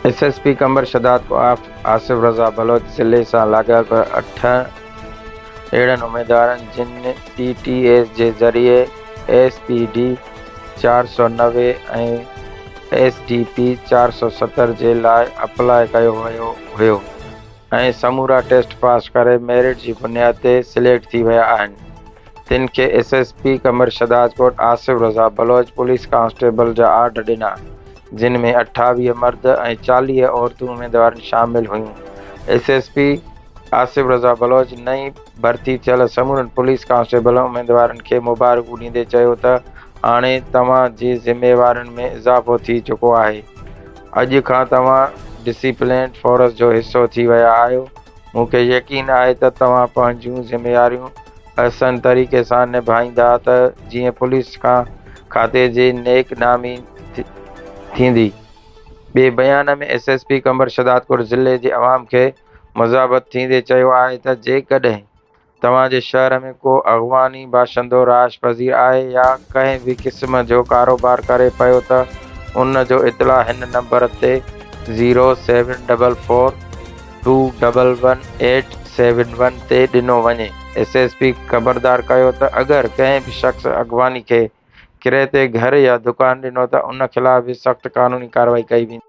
S S P Qambar Shahdadkot آف آصف رضا بلوچ ضلعي سان لاڳاپيل اٺ اھڙن اميدوارن جن ٽي ٽي ايس جي ذريعي ايس پي ڊي چار سؤ نوي ۽ ايس ڊي پي چار سؤ ستر جي لاء اپلاء ڪيو ويو ھيو ۽ سمورا ٽيسٽ پاس ڪري ميرٽ جي بنياد تي سليڪٽ ٿي ويا آھن. تن کي ايس ايس پي ڪمرشد راجڪوٽ آصف رضا بلوچ پوليس ڪانسٽيبل جا آرڊر ڏنا جن ۾ اٺاويهه مرد ۽ چاليهه عورتون اميدوارن شامل هيون S S P Asif Raza Baloch نئين ڀرتي ٿيل سمورن پوليس ڪانسٽيبل اميدوارن کي مبارڪون ڏيندي چيو ته هاڻي توهان جي ذميوارين ۾ اضافو ٿي چڪو آهي اڄ کان توهان ڊسيپلينڊ فورس جو حصو ٿي ويا آهيو مون کي يقين آهي ته توهان پنهنجيون ذميواريون احسن طريقي سان نڀائيندا ته جيئن پوليس کان کاتي جي نيڪ نامي ٿيندي. ٻئي بيان ۾ S S P Qambar Shahdadkot ضلعي جي عوام کي مذاحبت ٿيندي چيو آهي ته جيڪڏهن توهان جي شهر ۾ ڪو اغواني باشندو رهائش پذير آهي يا ڪنهن به قسم جو ڪاروبار ڪري پيو ته ان جو اطلاع هن نمبر تي zero seven double four two double one eight seven one تي ڏنو وڃي ايس ايس پي خبردار ڪيو ته اگر ڪنهن به شخص اغواني کي ڪري تي گهر يا دڪان ڏنو ته ان خلاف به سخت قانوني ڪارروائي ڪئي ويندي.